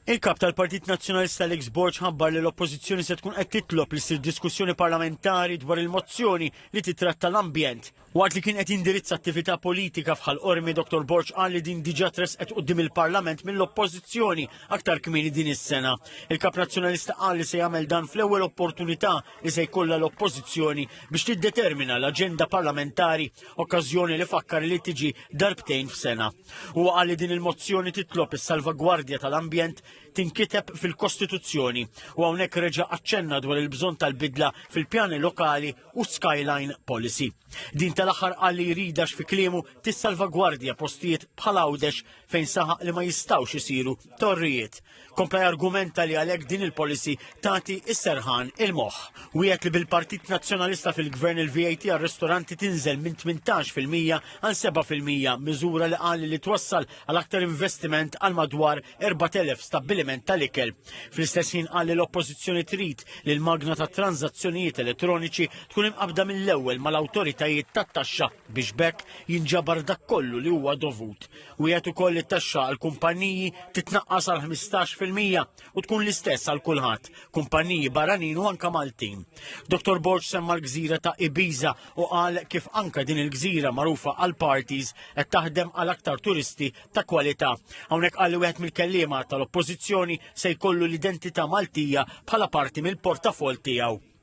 Il-Kap tal-Partit Nazzjonalista Alex Borg ħabbar li l-Oppożizzjoni se tkun qed titlob li ssir diskussjoni parlamentari dwar il-mozzjoni li titratta l-ambjent. Waqt li kien qed jindirizza attività politika f'Ħal Qormi, Dr Borg qal li din diġà tressqet quddiem il-Parlament mill-Oppożizzjoni aktar kmieni din is-sena. Il-Kap Nazzjonalista qal li se jagħmel dan fl-ewwel opportunità li se jkollha l-Oppożizzjoni biex tiddetermina l-aġenda parlamentari, okkażjoni li fakkar li tiġi darbtejn f'sena. Huwa qal li din il-mozzjoni titlob is-salvagwardja tal-ambjent tinkiteb fil-Kostituzzjoni u hawnhekk reġa' aċċenna dwar il-bżonn tal-bidla fil-pjani lokali u skyline policy. Din tal-aħħar qal li jridax fi kliemu tissalvagwardja postijiet bħal Għawdex fejn saħaq li ma jistgħux isiru torrijiet Kompla jargumenta li għalhekk din il-policy tagħti s-serħan il-moħħ. Wieħed li bil-Partit Nazzjonalista fil-Gvern il-VAT għar-ristoranti tinżel minn 18 fil-mija għal 7 fil-mija, miżura li qal li twassal għal aktar investiment għal madwar 4,000 stabbiliment tal-ikel. Fl-istess ħin qal li l-Oppożizzjoni trid li l-magna ta' tranzazzjonijiet elettroniċi tkun imqabda mill-ewwel mal-awtoritajiet tat-taxxa biex bekk jinġabar dak kollu li huwa dovut. Wiegħed ukoll li t-taxxa għal kumpanniji titnaqqas għal 15 fil-mija u tkun l-istess għal kulħadd, kumpanniji barranin u anka Maltin. Dr. Borg semma l-gżira ta' Ibiza u qal kif anka din il-gżira magħrufa għal parties qed taħdem għal aktar turisti ta' kwalità. Hawnhekk qal li wieħed mill-kelliema tal-Oppożizzjoni se jkollu l-identità Maltija bħala parti mill-portafol tiegħu.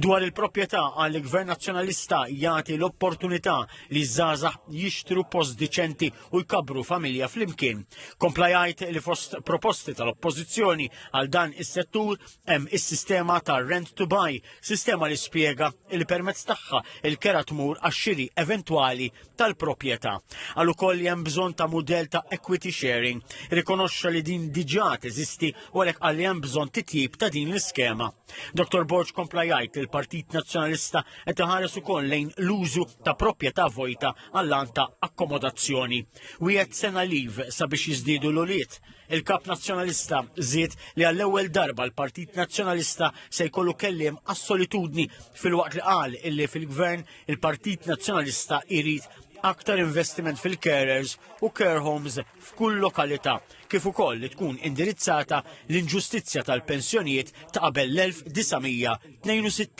Dwar il-proprjetà għal gvern nazzjonalista jagħti l-opportunità li żgħażagħ jixtru post diċenti u jkabru familja flimkien. Kompla jgħid li fost proposti tal-oppożizzjoni għal dan is-settur hemm is-sistema ta' rent to buy, sistema li spjega li permezz tagħha il-kera tmur għax-xiri eventwali tal-proprjetà. Għal ukoll li hemm bżonn ta' mudell ta' equity sharing, rikonoxxa li din diġà teżisti u għalhekk għal hemm bżonn titjib ta' din l-iskema. Dr. Borg kompla jgħid li l-Partit Nazzjonalista qed iħares ukoll lejn l-użu ta' proprjetà vojta għall-għan ta' akkomodazzjoni. Wieħed sena liv sabiex jiżdiedu l-ulied. Il-Kap Nazzjonalista żied li għall-ewwel darba l-Partit Nazzjonalista se jkollu kelliem għas-solitudni filwaqt li qal illi fil-Gvern il-Partit Nazzjonalista jrid aktar investiment fil-carers u care homes f'kull lokalità, kif ukoll li tkun indirizzata l-inġustizzja tal-pensjonijiet ta' qabel l-1962.